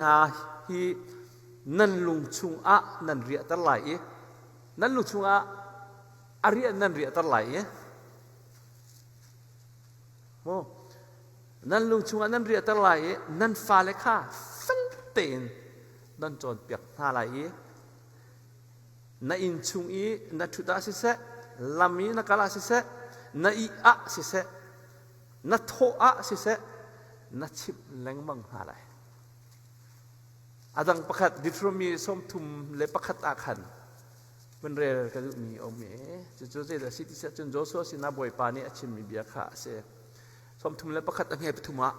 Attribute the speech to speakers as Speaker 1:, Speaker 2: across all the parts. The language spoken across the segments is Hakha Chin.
Speaker 1: hna hi nan lung chungah nan riahter lai i nan lung chungah a riah nan riahter lai i oh, nan lung chungah nan riahter lai i nan fale kha fel tein nan cawnpiak hna lai i na inn chung i na ṭhut ah siseh lam i na kal ah siseh na ih ah siseh na thawh ah siseh na chimh lengmang hna lai A dang pakhat Deuteronomy sawmthum le pakhat ah khan van rel ka duhmi a um i cucu zeidah si ti siah cun Joshua sinah Bawipa nih a chimmi bia kha a si. Sawmthum le pakhat a nge pathum ah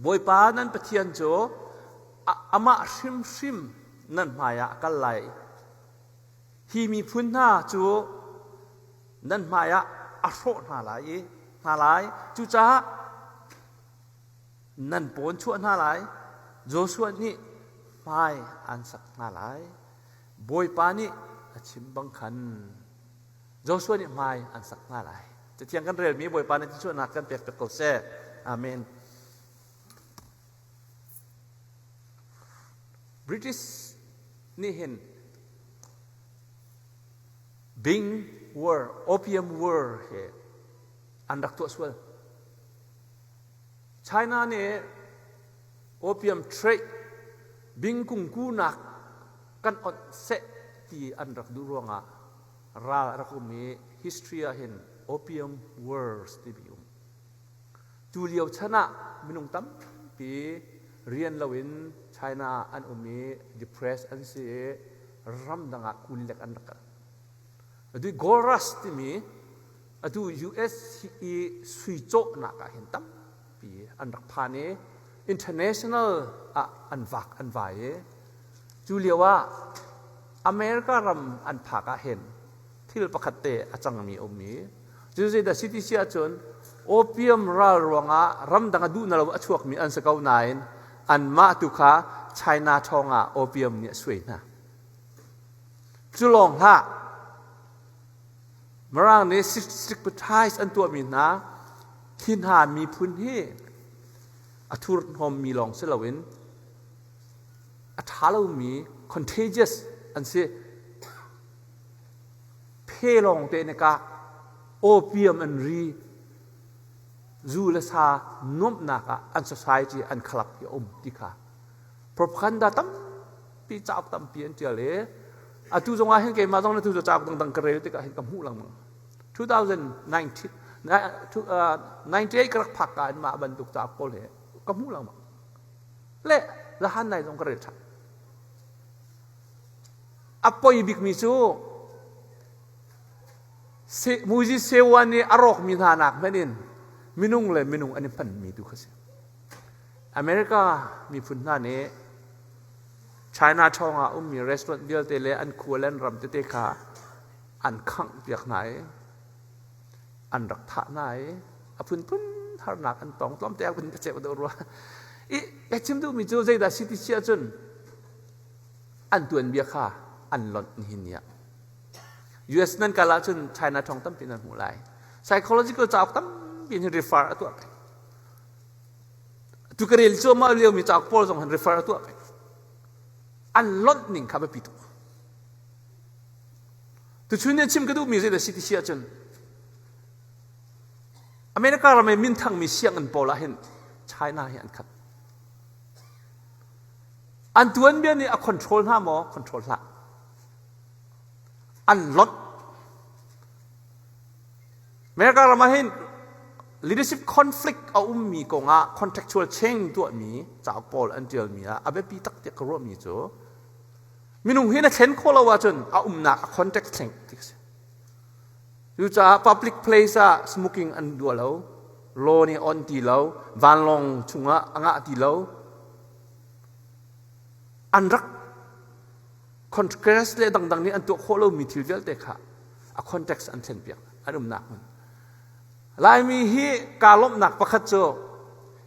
Speaker 1: Bawipa nan Pathian cu amah hrimhrim nan hmaiah a kal lai. Hi miphun hna cu nan hmaiah a hrawh hna lai i hna lai cucaah nan pawn chuah hna lai Joshua nih hmai aan sak hna lai Bawipa nih a chim bang khan Joshua nih hmai an sak hna lai Cathiang kan relmi Bawipa nih chuahnak kan pek tuk ko seh Amen British nih hin Bing War Opium War he an rak tuah sual China nih opium trade bing kungkunak kan onh seh ti an rak duh ruangah ral a rak um i history ah hin opium wars timi um. Tu lio chan ah minung tampi rian loin China ah an um i depressed an si i ramdang ah kun lek an rak kal. Adi Gold Rush timi Atu US i sui cawhnak ah hin tampi an rak phan i international ah an vak an vai i cu lio ah America ram an phak ah hin thil pakhat te a cangmi a um i cu zeidah si ti si ahcun opium ral ruangah ramdang a duh na lo a chuakmi an si ko nain anmah tu kha China thawng ah opium nih a suai hna. Cu lawng hlah Mirang nih secretize an tuahmi hna hi hna miphun hi a thurhnawmmi lawng si loin a ṭha lomi contagious an si. Phe lawng te nih kah opium an ri zu le sa nuamhnak ah an society an khalap hi a um ti kha propaganda tam ti cauk tampi an tial i atu zong ah hin keimah zong na tu cauk dangdang ka rel tikah hin ka hmuh lengmang 2019 98 ka rak phak ka in mah bantuk cauk pawl he ka hmuh lengmang le lahan nai zong ka rel ṭhan a poi bikmi cu Muzi Sewa nih a rawkmi hna nak hmanh in minung le minung an i hmanmi tu kha si America miphun hna nih China thawng ah ummi restaurant vialte le an khua le an ram tete kha an khangh piak hna i an rak thah hna i a phunphun harnak an tong tlawmte ah kun ka cek deuh rua i ka chim duhmi cu zeidah si ti si ahcun an tuanbia kha an lonh nihin niah US nan kal ahcun China thawng tampi nan hmuh lai psychological cauk tampi in refer a tuah peng Tu ka rel cuahmah liomi cauk pawl zong han refer a tuah peng. An lonh ning kha biapi tuk. Tuchun nih chim ka duhmi zeidah si ti si ahcun America ram i minthangmi sianginn pawl ah hin China hi an khat. An tuanbia nih a control hna maw? Control hlah. An lot. America ram ah hin leadership conflict a ummi kongah contractual change tuahmi cauk pawl an ṭialmi ah a biapi tak tiah ka ruahmi cu minung hi na thlen khawh lo ahcun a umnak a context thleng ti a si. Cucaah public place ah smoking an dua lo, law nih on ti lo, vanlawng chungah a ngah ti lo. An rak contrast le dangdang nih an tuah khawh lomi thil vialte kha a context an thlen piak an umnak hmun laimi hi kaa lawmhnak pakhat cu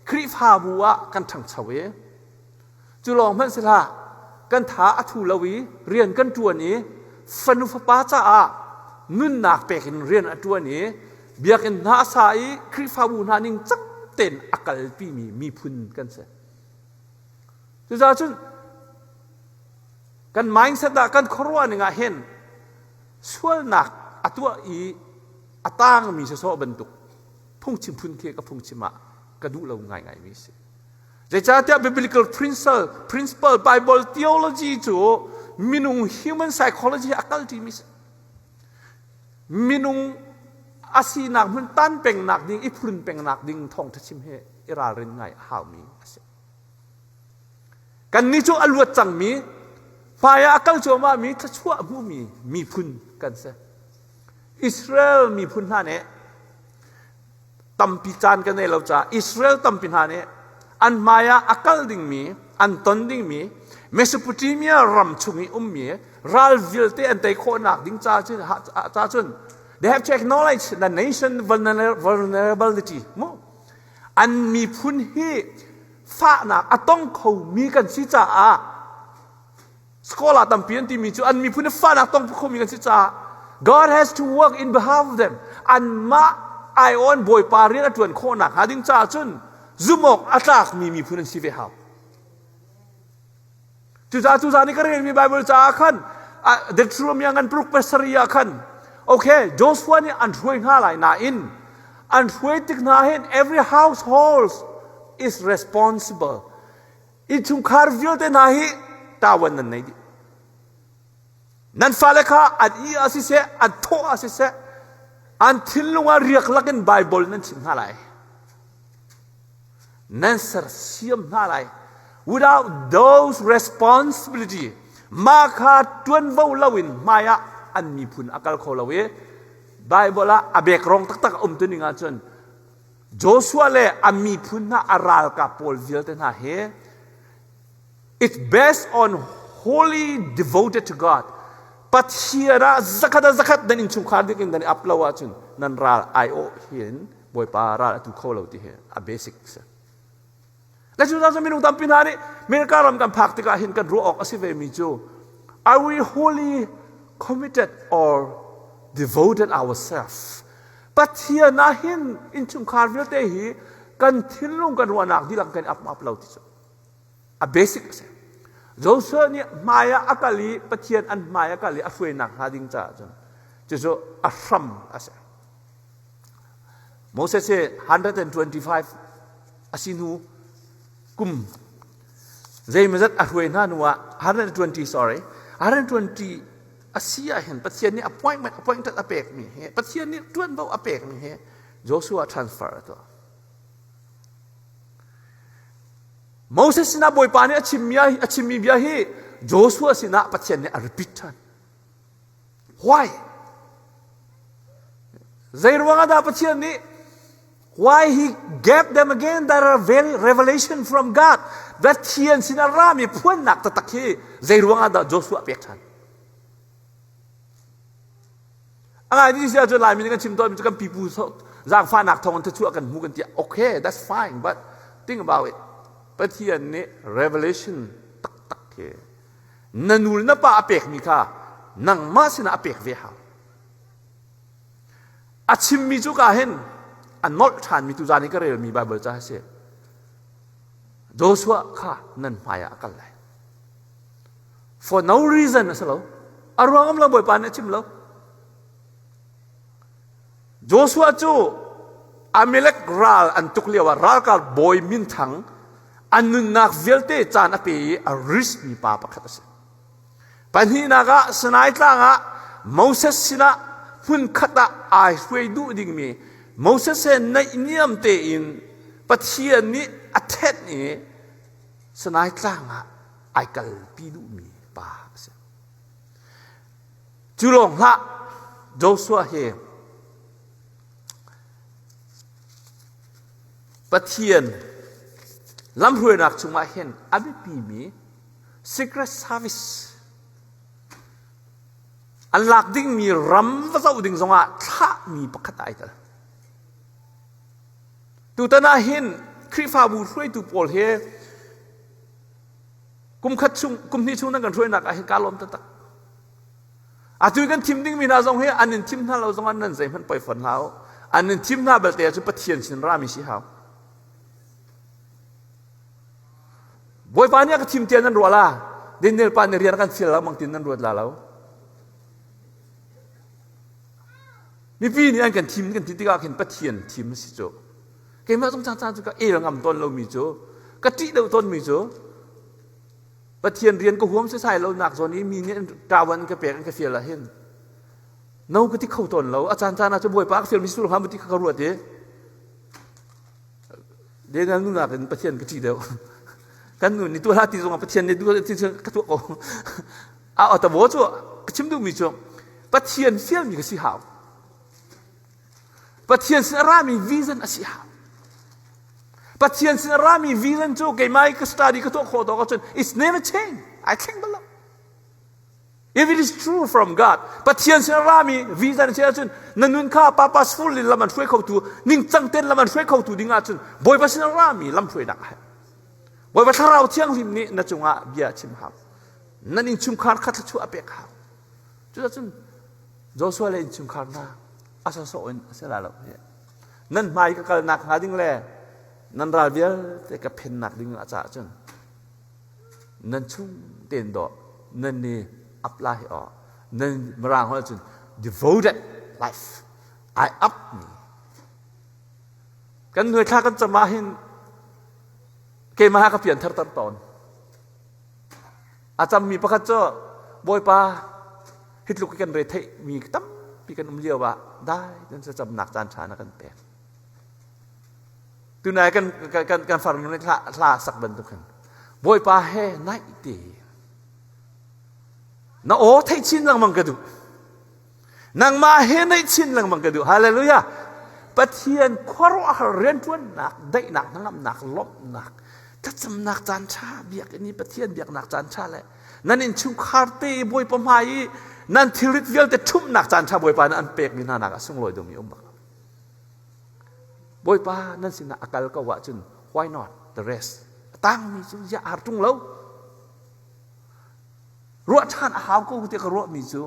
Speaker 1: khrihfabu ah kan ṭhangcho i cu lawng hmanhselah kan tha a thu lo i rian kan ṭuan i fanu fapa caah nunnak pek in rian a ṭuan i biakinn hna a sa i khrihfabu hna ning cak tein a kalpimi miphun kan si Cucaah cun kan mindset ah kan khuaruah ning ah hin sualnak a tuah i a tangmi si sawh bantuk phungchim phun khi ka phungchim ah ka duh lo ngaingai mi si. Zeicahtiah biblical principle, principle Bible theology cu minung human psychology a kalṭi mi si. Minung a sinak hmun tan pengnak ding, i phurun pengnak ding thawngṭha chim hi i ralrin ngai a haumi a si. Kannih cu a luat cangmi, hmaiah a kal cuahmahmi thluachuah hmuhmi miphun kan si. Israel miphun hna nih tampi caan kan ei lo caah Israel tampi hna nih an hmaiah a kal dingmi, an ton dingmi Mesopotamia ram chung i ummi ral vialte an tei khawhnak ding ca cun, ca cun they have to acknowledge the nation vulnerability. Mu, an miphun hi fahnak a tong khomi kan si caah sekolah tampi an timi cu an miphun hi fahnak tong khomi kan si caah God has to work in behalf of them anmah ai on bawipa rian a ṭuan khawh nakhnga ding caah cun zumawk a tlakmi miphun an si ve hau Cucaah cucaah nih ka relmi Baibal caah khan Deuteronomy ngan paruk pasarih ah khan okay Joshua nih an hruai hna lai nain an hruai tik hna hin every household is responsible innchungkhar vialte hna hi tawan nan nei dih Nan fale kha an ih ah siseh, an thawh ah siseh, an thinlung ah riaklak in Baibal nan chimh hna lai. Nan sersiam hna lai. Without those responsibility, mah kha ṭuanvo lo in hmai ah an miphun a kal kho lo i Baibal ah a bekrong taktak a um tuning ahcun Joshua le a miphun hna a ralkap pawl vialte hna he It's based on wholly devoted to God. Pathian ah zakhat ah zakhat nan innchungkhar dikin nan up lo ahcun nan ral aiawh hin Bawipa ral a tu kho lo ti hi a basic si. Le cu zan minung tampi hna nih America ram kan phak tikah hin kan ruah awk a si ve mi cu are we wholly committed or devoted ourselves? Pathian ah hin innchungkhar vialte hi kan thinlung kan ruahnak dilang kan up up lo ti cu. a basic a si. Joshua nih hmai ah a kal i Pathian an hmai a kal i a hruainak hnga ding caah cun cucu a hram a si. Moses hi 125 a si hnu kum zeimazat a hruai hna hnu ah 120 sorry 120 a si ahhin Pathian nih appointment appointment a pekmi hi Pathian nih ṭuanvo a pekmi hi Joshua transfer a tuah. Moses sinah Bawipa nih a chimmi bia hi Joshua sinah Pathian nih a repeat ṭhan. Why? Zei ruangah dah Pathian nih Why he gave them again their revelation from God? Pathian sinah rami phuannak taktak hi zei ruangah dah Joshua pek ṭhan? A ngai mi si ahcun Laimi nih kan chim tawnmi cu kan pipu zaangfahnak thawng in thluachuah kan hmu kan tiah okay that's fine but think about it Pathian nih revelation taktak hi na nu le na pa a pekmi kha nangmah sinah a pek ve hau a chimmi cu ka hin a nolh ṭhanmi tu zan i ka relmi Baibal ca a si Joshua kha nan hmaiah a kal lai For no reason a si lo. A ruangam lo Bawipa nih a chim lo. Joshua cu Amalek ral an tuk lio ah ralkal bawi min thang an nunnak vialte caan a pe i a risk mi pa pakhat a si. Pahnihnak ah Sinai tlang ah Moses sinah hmun khat ah ai hruai duh dingmi Moses he naihniam tein Pathian nih a thenh i Sanai tlang ah ai kalpi duhmi pa a si. Cu lawng hlah, Joshua hi Pathian lamhruainak chungah hin a biapimi secret service an lak dingmi ram va zoh ding zongah thlahmi pakhat ai tel. Tutan ah hin Khrihfabu hruaitu pawl he kumkhat chung kumhnih chung nan kan hruainak ah hin kaa lawm taktak. Atu i kan thim dingmi hna zong hi an in thim hna lo zongah nan zeihmanh poi fon hlah u. An in thim hna belte cu Pathian sin rami si hau. Bawipa nih a ka thim tian nan ruat la, Daniel pa nih rian kan feel la mang tin nan ruat la lo. mipi nih an kan thim kan ti tikah khin Pathian thim a si cu keimah zong caan cu ka el ngam tawn lomi cu ka ṭih lo tawnmi cu Pathian rian ka huam setsai lonak zawn i mi nih ṭawan an ka pek an ka fial ahhin no ka ti kho tawn lo a caan caan ah cu bawipa ka fialmi sur hram ti ka ruat i dengal nunak in Pathian ka ṭih deuh kan nun ni tuala ti zongah Pathian nih duh ka tuah ko a atawo cu ka chim duhmi cu pathian fialmi ka si hau pathian sin a rami vision a si hau pathian sin a rami vision cu keimah ka study ka tuah khawh tawk ahcun it's never change ai thleng bal lo if it is true from god pathian sin a rami vision a si ahcun na nun kha purposeful in lam an hruai khotu ningcang ten lam an hruai khotu ding ahcun bawipa sin a rami lam hruainak a herh bawipa thlarau thianghlim nih na cungah bia chim hau nan innchungkhar kha thluachuah a pek hau cucun Joshua le innchungkhar hna a sawsawh in a si la lo nan hmai ka kalnak hnga ding le nan ral vialte ka phennak ding a cah cun nan chung tein daw nan ni up lai aw nan mirang holh cun devoted life I up me kan nuai thla kan cam ah hin keimah ka pian thar tan tawn A cammi pakhat cu Bawipa hi tluk hi kan re theih mi tampi kan um lio ah dai nan camnak caan ṭha na kan pek. Tunai kan kan kan farnu nih hla, hla sak bantuk hin Bawipa he naih te na aw theih chin lengmang ka duh nangmah he naih chin lengmang ka duh hallelujah pathian khuaruahhar rianṭuannak daihnak hnangamnak lawmhnak thlacamnak caan ṭha biakinn i pathian biaknak caan ṭha le nan innchungkhar te i bawipa hmai i nan thilrit vialte ṭhumhnak caan ṭha bawipa nih an pekmi hna naak ah sunglawi dumi um bak lo bawipa nan sinah a kal ko ahcun why not the rest a tangmi cu ziah har ṭung lo ruah ṭhan a hau ko tiah ka ruahmi cu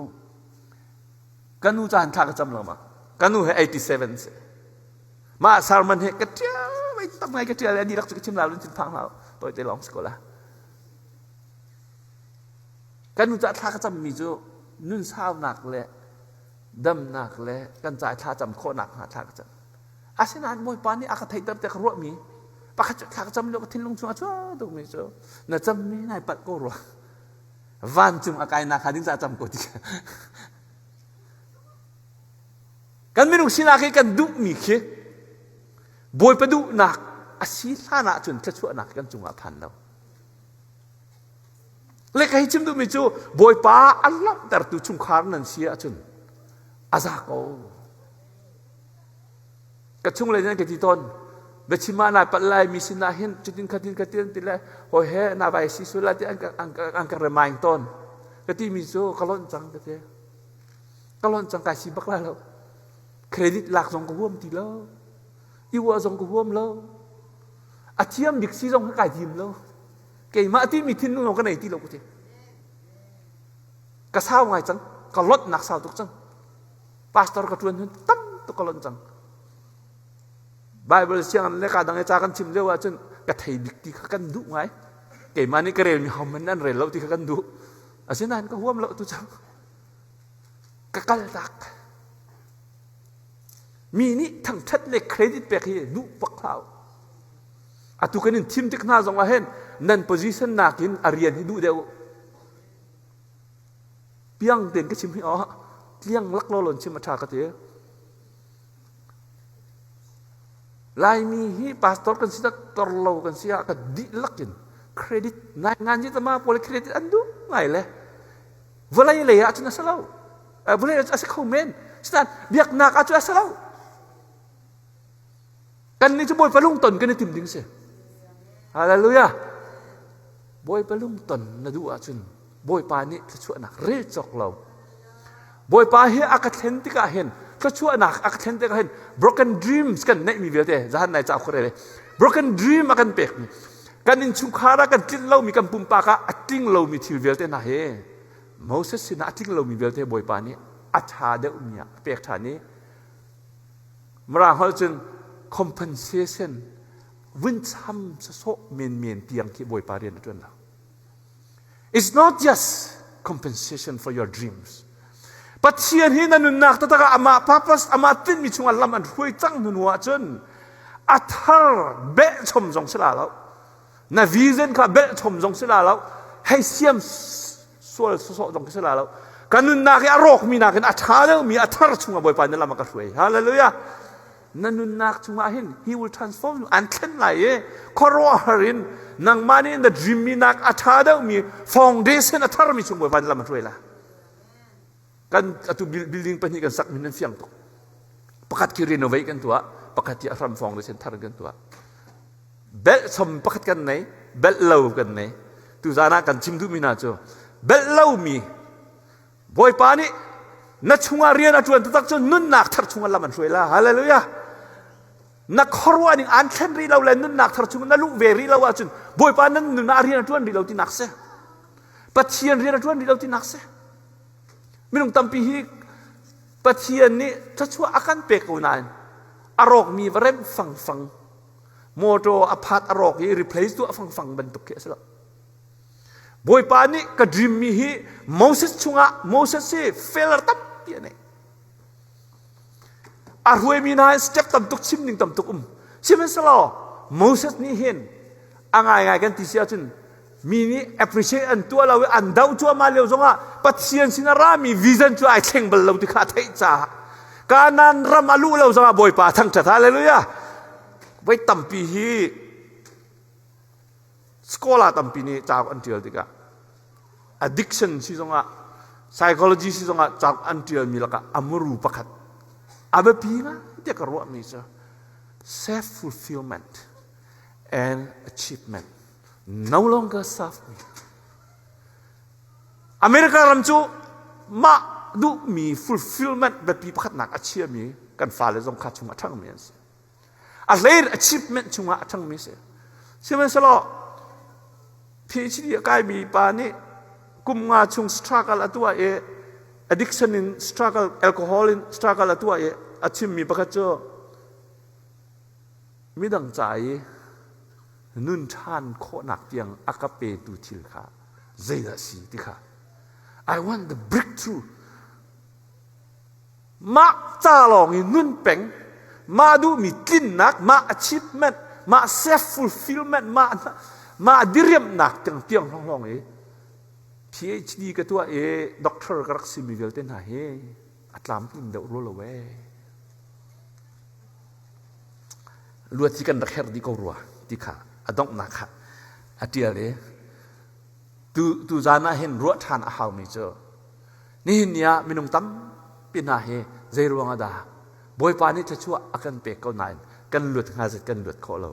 Speaker 1: ka nu caan thla ka cam lengmang ka nu he 87 si mah sermon hi ka ṭial mai tak ngai ka ṭial ani rak cu ka chim lau lun chin phang hlau poi te long sikola kan nu cah thla ka cammi cu nun saunak le damnak le kan cai thla cam khawhnak hnga thla ka cam Asinain Bawipa nih a ka theihter tiah ka ruahmi pakhat cu thla ka cam lio ka thinlung chung a cuah tukmi cu na cammi nai palh ko rua vancung a kainak hnga ding ca cam ko ti kan minung sinak hi kan duhmi khi bawipa duhnak a si hlan ah cun thluachuahnak kan cungah phan lo le ka hi chim duhmi cu bawipa a langhtertu chungkhar nan si ahcun a za ko ka chunglei nan ka ti tawn biachim ah naa palh lai mi sinah hin cutin khatin khatin ti le hoi he na vai si su lai ti an ka an ka remind tawn ka ti mi cu ka lonh cang ka ti ka lonh cang kai si bak la lo credit lak zong ka huam ti lo iwa zong ka huam lo a thiam bik si zong kai thim lo keimah ti mi thin lung ka nei ti lo ka ti ka sau ngai cang ka lot nak sau tuk cang pastor ka ṭuan hun tam tuk ka lonh cang Bible sianginn le ka dang i ca kan chim lio ahcun ka thei bik ti kha kan duh ngai keimah nih ka rel mi hom in an rel lo ti kha kan duh asinain ka huam lo tu cang ka kal tak mi nih thangṭhat le credit pek hi duh pak hau atu kan in thim tik hna zong ah hen nan position nak in a rian hi duh deuh Piang tein ka chim hi awah tliang lak lo lon chim a ṭha ka ti. Laimi hi pastor kan si tak torlo kan si ah ka dih lak in credit nai ngan ji tama pole credit an du ngai le vawlei lei ah cun a si lo vawlei ah cun a si kho men sitan biaknak ah cu a si lo Kannih cu Bawipa lungton kan i tim ding a si. Hallelujah! Bawipa lungton na duh ahcun Bawipa nih thluachuahnak rel cawk lo. Bawipa hi a ka thlen tikah hin thluachuahnak a ka thlen tikah hin broken dreams kan neihmi vialte zahan nai ca khurele broken dream a kan pekmi kan innchungkhar ah kan tlinh lomi kan pumpak ah a tling lomi thil vialte hna hi Moses sinah a tling lomi vialte Bawipa nih a ṭha deuhmi ah a pek ṭhan i Mirang holh cun compensation vuncham sasawh menmen tiang khi Bawipa rian a ṭuan lo. It's not just compensation for your dreams. Pathian hi na nunnak taktak ah amah purpose amah tinhmi chungah lam an hruai cang hnu ahcun a thar behchom zong si la lo na vision kha behchom zong si la lo hei siam sual sawsawh zong khi si la lo kan nunnak hi a rawkmi nakin a ṭha deuhmi a thar chungah Bawipa na lam a ka hruai hallelujah na nunnak chungah hin he will transform you an thlen lai i khuaruahhar in nangmah nih na dreammi nak a ṭha deuhmi foundation a tharmi chung Bawipa na lam a hruai la kan atu building pahnih kan sak min an fiang tuk pakhat khi renovate kan tuah pakhat hi ahram fawng le center kan tuah belt som pakhat kan nei belt lo kan nei tu zan ah kan chim duhmi na cu belt lomi bawipa nih na chungah rian a ṭuan taktak cu nunnak thar chungah lam an hruai la hallelujah na khuaruah ning an thlen rih lo le nunnak thar chungah na luh ve rih lo ahcun bawipa nan nunah rian a ṭuan rih lo tinak si pathian rian a ṭuan rih lo tinak si Minung tampi hi Pathian nih thluachuah a kan pe ko nain a rawkmi va remh fangfang motor a phat a rawk i replace tuah fangfang bantuk khi a si lo bawipa nih ka dream mi hi moses chungah moses hi failure tampi a nei A hruaimi hna hi step tamtuk chim ning tamtuk um. Sihmanhsehlaw Moses nih hin a ngaingai kan ti si ahcun mi nih appreciate an tuah lo i an doh cuahmah lio zongah Pathian sin a rami vision cu ai thleng bal lo ti kha a theih caah Kanan ram a luh lo zongah Bawipa a thangṭhat. Hallelujah! Voi tampi hi sekolah tampi nih cauk an ṭial tikah addiction si zongah psychology si zongah cauk an ṭialmi lakah a muru pakhat a biapi ngai tiah ka ruahmi cu self fulfillment and achievement no longer serve me America ram cu mah duhmi fulfillment biapi pakhatnak a chiami kan fale zong kha chung a ṭhangmi an si a hleir achievement chungah a ṭhangmi si sihmanhsehlaw PhD a kaimi pa nih kum nga chung struggle a tuah i addiction in struggle alcohol in struggle a tuah i a chimmi pakhat cu midang ca i nun ṭhan khawhnak tiang a ka petu thil kha zeidah a si ti kha I want the breakthrough Mah ca lawng i nun peng, mah duhmi tlinnak, mah achievement, mah self-fulfillment, mah, mah diriamhnak tiang tiang lawnglawng i PhD ka tuah i doctor ka rak simi vialte hna hi a tlamtlin deuh rual lo ee. Luat hi kan rak herh dih ko rua ti kha a donghnak kha a ṭial i tuzan ah hin ruah ṭhan a haumi cu nihin ni ah minung tampi hna hi zeiruang ah dah Bawipa nih thluachuah a kan pek ko nain kan luat hnga zet kan luat khawh lo.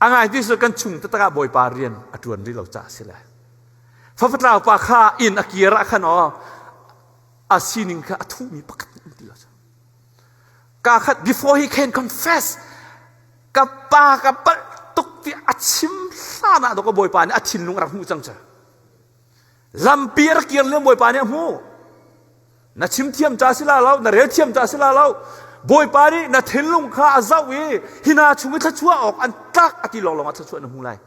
Speaker 1: A ngai ti cu kan chung taktak ah Bawipa rian a ṭuan rih lo caah a si le. Fafatlau pa kha inn a kir ah khan aw a sining kha a thuhmi pakhat an ti lo. Kaa khat before he can confess. Ka pa ka palh tuk tiah a chim hlan ah ka bawipa nih a thinlung a rak hmuh cang cu. Lampi a rak kir liam bawipa nih a hmuh. Na chim thiam ca si la lo, na rel thiam ca si la lo. Bawipa nih na thinlung kha a zoh i hina chung i thluachuah awk an tlak a ti lawnglawng ah thluachuah na hmu lai.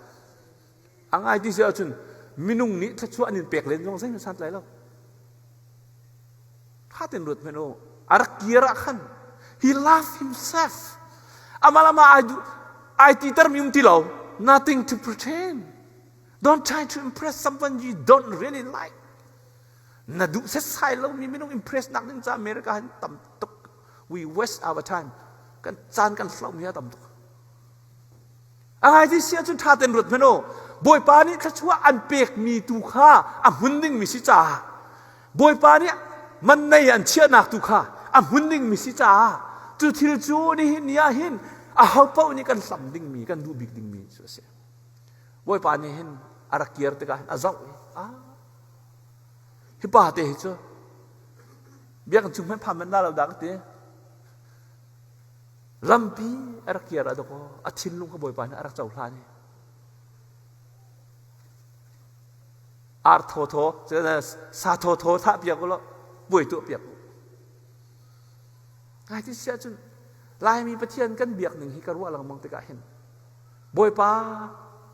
Speaker 1: A ngai ti si ahcun minung nih thluachuah an in pek len zong zeihmanh santlai lo. Ṭha tein ruat hmanh u. A rak kir ah khan he love himself. Amah lama ai, ai titermi um ti lo. Nothing to pretend. Don't try to impress someone you don't really like. Na duh setsai lomi minung impress nak ding ca America han tam tuk. We waste our time. Kan caan kan hlomi a tam tuk. A haiti sia cu ṭha tein ruat hmanh u. Bawipa nih thluachuah an pekmi tu kha a hmun dingmi si caah Bawipa nih mannei an chiahnak tu kha a hmun dingmi si caah cu thil cu nihin ni ah hin ahopaoh nih kan hlam dingmi, kan duh bik dingmi cu a si. Bawipa nih hin a rak kir tikah hin a zoh i, a hi pa te hi cu biakinn chung hmanh phan manh la lo da ka ti. Lampi a rak kir ah dok aw a thinlung ka Bawipa nih a rak cohlan i ar thawthaw sa thawthaw thah piak u law buai tuah piak u ngai ti siah cun Laimi Pathian kan biak ning hi ka ruah lengmang tikah hin Bawipa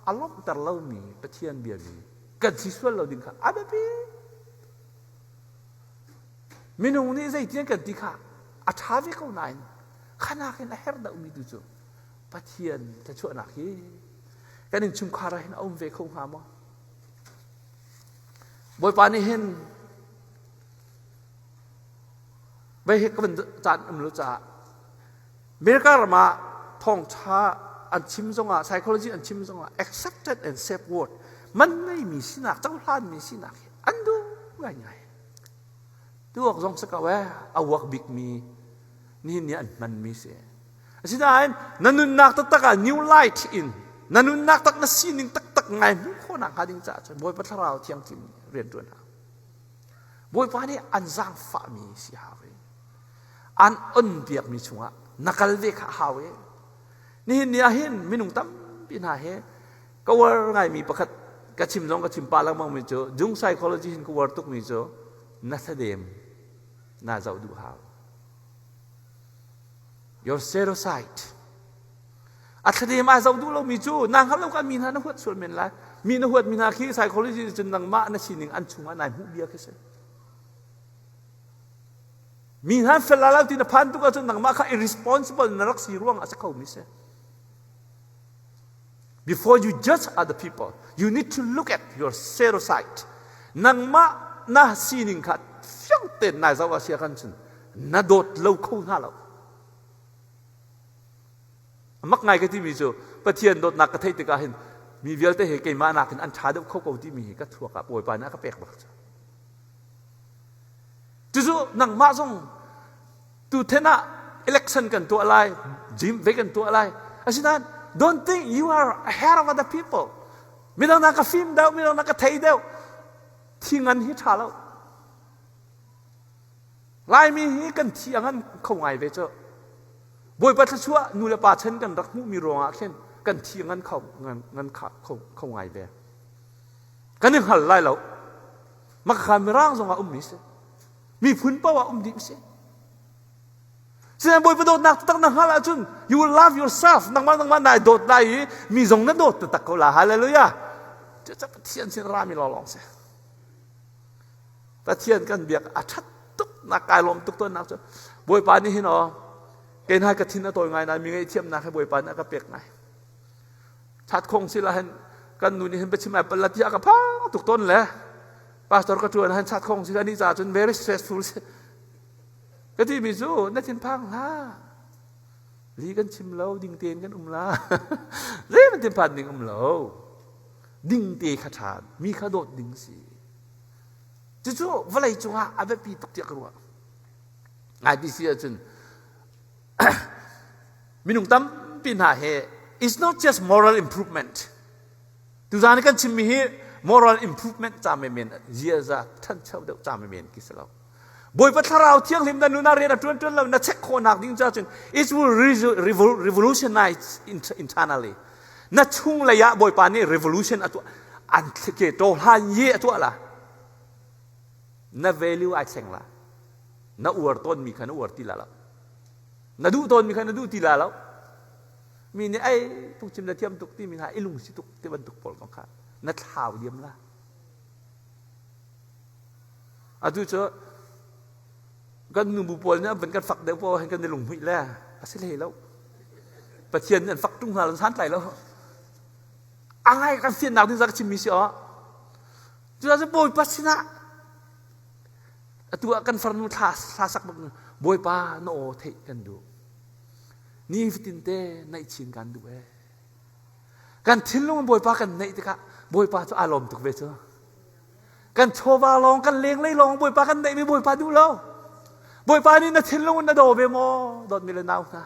Speaker 1: a lawmhter lomi Pathian biami kan si sual lo ding kha a biapi Minung nih zeitiang kan ti kha a ṭha ve ko nain kha nakin a herh dohmi tu cu Pathian thluachuahnak hi kan innchungkhar ah hin a um ve kho hnga maw? Bawipa nih hin bei he ka van caan um lo caah Mirka ram ah thawngṭha an chim zongah, psychology an chim zongah accepted and safe word, man ngeimi sinak, cohlanmi sinak hi an duh ngaingai. Tuak zong si ko eh, a uak bikmi, nihin ni an hmanmi si. Asinain, na nunnak taktak ah new light in, na nunnak tak na sining taktak ngai hmuh khawhnak hnga ding caah cun Bawipa Thlarau Thianghlim rianṭuan hna. Bawipa nih an zaangfahmi si hau. an on piakmi chungah na kal ve kha a hau i nihin ni ahhin minung tampi hna hi ka uar ngaimi pakhat ka chim zong ka chim pah lengmangmi cu dung psychology hin ka uar tukmi cu na thadem na zoh duh hau your pseudosite a thladem ai zoh duh lomi cu na hngal lo ka mi hna na huat sual men lai mi na huatmi hna khi psychology nih cun nangmah na sining an chungah nai hmuh bia khi si Mi nan fel la lo ti na phan tuk ahcun nangmah kha irresponsible na rak si ruang ah a si kho mi si. Before you judge other people, you need to look at your pseudosite. Nangmah na sining kha fiang ten nai zau ah sia kan cun na dawt lo kho hna lo. Mak ngai ka ti mi cu Pathian dawtnak ka theih tikah hin mi vialte he keimah nakin an ṭha deuh kho ko ti mi hi ka thuak ah bawipa nih a ka pek bak cu. Cucu nangmah zong tuthen ah election kan tuah lai, gym ve kan tuah lai. Asinain don't think you are ahead of other people. Midang na ka fim deuh, midang na ka thei deuh. Thi ngan hi tha lo. Laimi hi kan thi angan kho ngai ve cu. Bawipa thluachuah nu le pa chen kan rak hmuhmi ruangah khin kan thi ngan kho ngan kho ngai ve. Kan i hngal lai lo. Makakha mirang zong ah ummi si. Miphun paoh ah um dih si. Sinain Bawipa dawtnak taktak na hal ahcun you will love yourself nangmah nangmah nai dawt lai i mi zong na dawt taktak ko la hallelujah cucak Pathian sin rami lawlawng si Pathian kan biak a ṭhat tuk na kai lawm tuk tonnak cu Bawipa nih hin aw kei nai ka thin a tawi ngai na mi ngei thiamnak he Bawipa nih a ka pek ngai that khong si la hen kan nu nih hin biachim ai palat hi a ka phang tuk ton le pastor ka tuan han chat khong si ani cha cun very stressful ka ti mi cu na thin phang hla li kan chim lo ding tein kan um la zei man tin phan ding um lo ding te kha tha mi kha dawt ding si cucu vawlei cungah a biapi tuk tiah ka ruah IPC ah cun minung tampi hna he is not just moral improvement tuzaan i kan chimmi hi moral improvement ca menmen ziaza ṭhancho deuh ca menmen khi si lo bawipa thlarau thianghlim na nu na rian a ṭuan ṭuan lo na chek khawhnak ding cu ahcun it will revolutionize internally na chunglei ah bawipa nih revolution a tuah an ke to hlan ye a tuah la na value ai thleng la na uar tawnmi kha na uar ti la lo na duh tawnmi kha na duh ti la lo mi nih ai tuk chim na thiam tuk timi hna i lungsi tuk ti bantuk pawl kong kha na thlau diam la atu cu kan nubu pawl nih van kan fak deuh pawl hen kan i lung hmuih le a si hlei lo pathian nih an fak ṭung hna lo san tlai lo a ngai kan fiannak ding zaka chimmi si awh cucaah cu bawipa sinah atu ah kan farnu thla hla sak bak bawipa na aw theih kan duh nifatin te naih chin kan duh e kan thinlung bawipa kan neih tikah bawipa cu aa lawm tuk ve cu kan chawva lawng kan lenglei lawng bawipa kan neihmi bawipa duh lo bawipa nih na thinlung na daw ve maw dawt mi le nau hna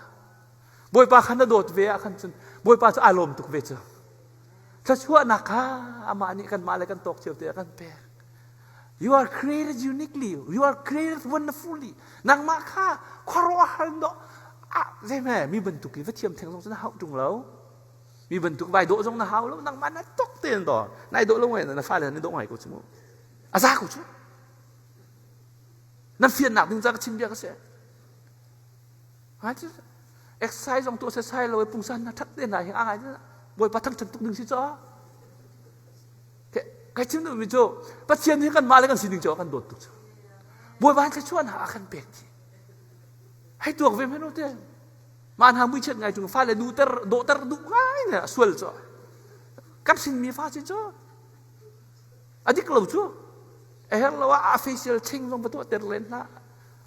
Speaker 1: bawipa khan na dawt ve ah khan cun bawipa cu aa lawm tuk ve cu thluachuahnak kha amah nih kanmah le kan tawk cio te a kan pek You are created uniquely. You are created wonderfully. Nangmah kha khuaruahhar dah ah zei hme mi bantuk i va thiam theng zong cu na hau tung lo mi bantuk vai dawh zong na hau lo nangmah na tok ten to nai dawh lo ngai na fale na dawh ngai ko chu a za ko chu nan fian nak ding za ka chin bia ka se ha chu exercise ong to se sai lo pung san na that te na hi a ngai na boy pathang chan tuk ding si cho Ka chimduhmi cu Pathian hi kan mah le kan sining cu a kan dawt tuk cu. Bawi van thluachuah hna a kan pek ti. Hei tuak ve hmenu te. Man ha muichiat ngai chung fa le nu ter dawhter duh ngai ne a sual cu. Kan sinmi fa sin cu a dik lo cu. A her lo ah a facial thing zong patuah ter len hna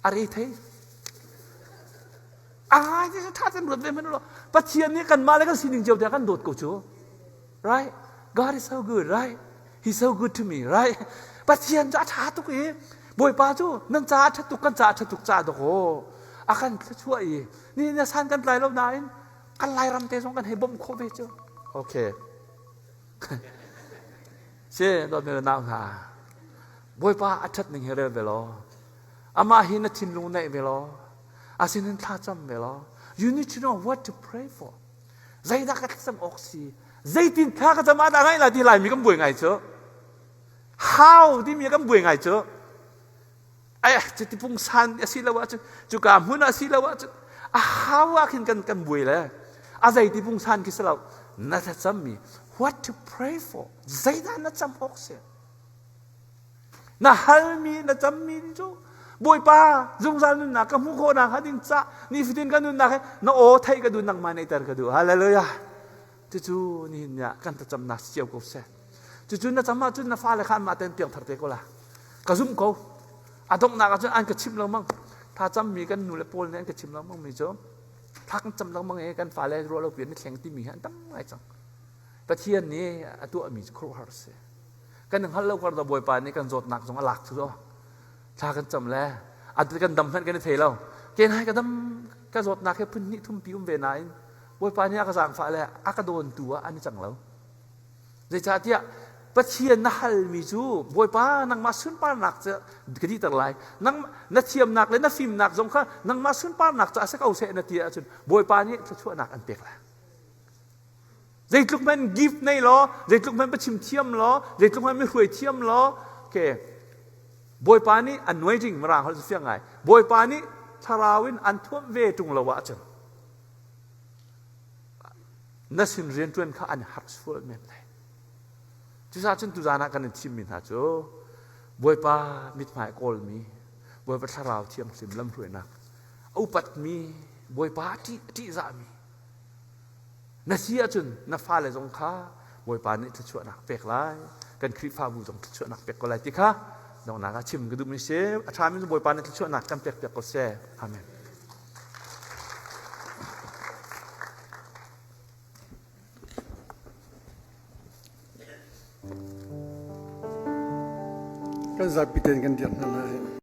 Speaker 1: a re thei. A ngai ni thatan ruat ve hmenu lo. Pathian nih kan mah le kan sining cio te a kan dawt ko cu. Right? God is so good, right? He's so good to me, right? Pathian cu a ṭha tuk i Bawipa cu nan caah ṭhat tuk, kan caah ṭhat tuk caah dakaw a kan thluachuah i ni na san kan tlai lo nain kan lairam te zong kan hei bawmh khawh ve cu. Okay. She, dawt ne nau hna. Bawipa a ṭhat ning hi rel ve law. Amah hi na thinlung neih ve law. Asinin thla cam ve law. You need to know what to pray for. Zeidah ka thlacam awk si? Zeitin thla ka cam ah dah ngaih la ti Laimi kan buai ngai cu. How timi kan buai ngai cu. Ai, cuti pungsan a si lo ahcun, cuka hmun ah si lo ahcun, a how ah khin kan kan buai le. A zei ti pungsan khi si lo. Na thlacammi, what to pray for? Zeidah na cam awk si? Na halmi, na cammi ni cu Bawipa zungzal nunnak ka hmuh khawh nakhnga ding cah nifatin kan nunnak hi na aw theih ka duh nangmah neihter ka duh. Hallelujah. Cucu nihin ni ah kan thlacamnak si cio ko seh. Cucu na cam ahcun na fale kha anmah ten piangthar te ko la. Ka zumh ko. A donghnak ahcun an ka chimh lengmang. Thlacammi kan nu le paul nih an ka chim lengmang mi cu thla kan cam lengmang i kan fale ruah lo pian i thleng timi hi an tam ngai cang. Pathian nih a tuahmi cu khuaruahhar a si. kan hngalh lo kar Bawipa nih kan zawtnak zong a lak cu thla kan cam le a kan dam hmanh kan i thei lo ke nai ka dam ka zawtnak he phun hnih thum pi um ve nain Bawipa nih a ka zaangfah le a ka dawn tu ah an i cang lo zeicahtiah Pathian na halmi cu Bawipa nangmah sunparnak cu ka dihter lai nang na thiamnak le na fimnak zong kha nangmah sunparnak cu a si ko seh na ti ahcun Bawipa nih thluachuahnak an pek lai Zeitluk hmanh give nei law, zeitluk hmanh biachim thiam law, zeitluk hmanh mihruai thiam law, okay, Bawipa nih an nuai jing mirang holh cu fiang ngai. Bawipa nih thlarau in an thuamh ve ṭung lo ah cun na sin rianṭuan kha an har sual men lai. Cucaah cun tuzan ah kan in thimmi hna cu
Speaker 2: Bawipa mithmai kawlmi, Bawipa thlarau thianghlim lamhruainak a upatmi, Bawipa a ṭih, a ṭihzahmi, Na si ahcun na fale zong kha Bawipa nih thluachuahnak pek lai. Kan Khrihfabu zong thluachuahnak pek ko lai ti kha donghnak ah chim ka duh mi si. A ṭhami Bawipa nih thluachuahnak kan pek piak ko seh. Amen. Kan zapi ten kan dirh hna lai.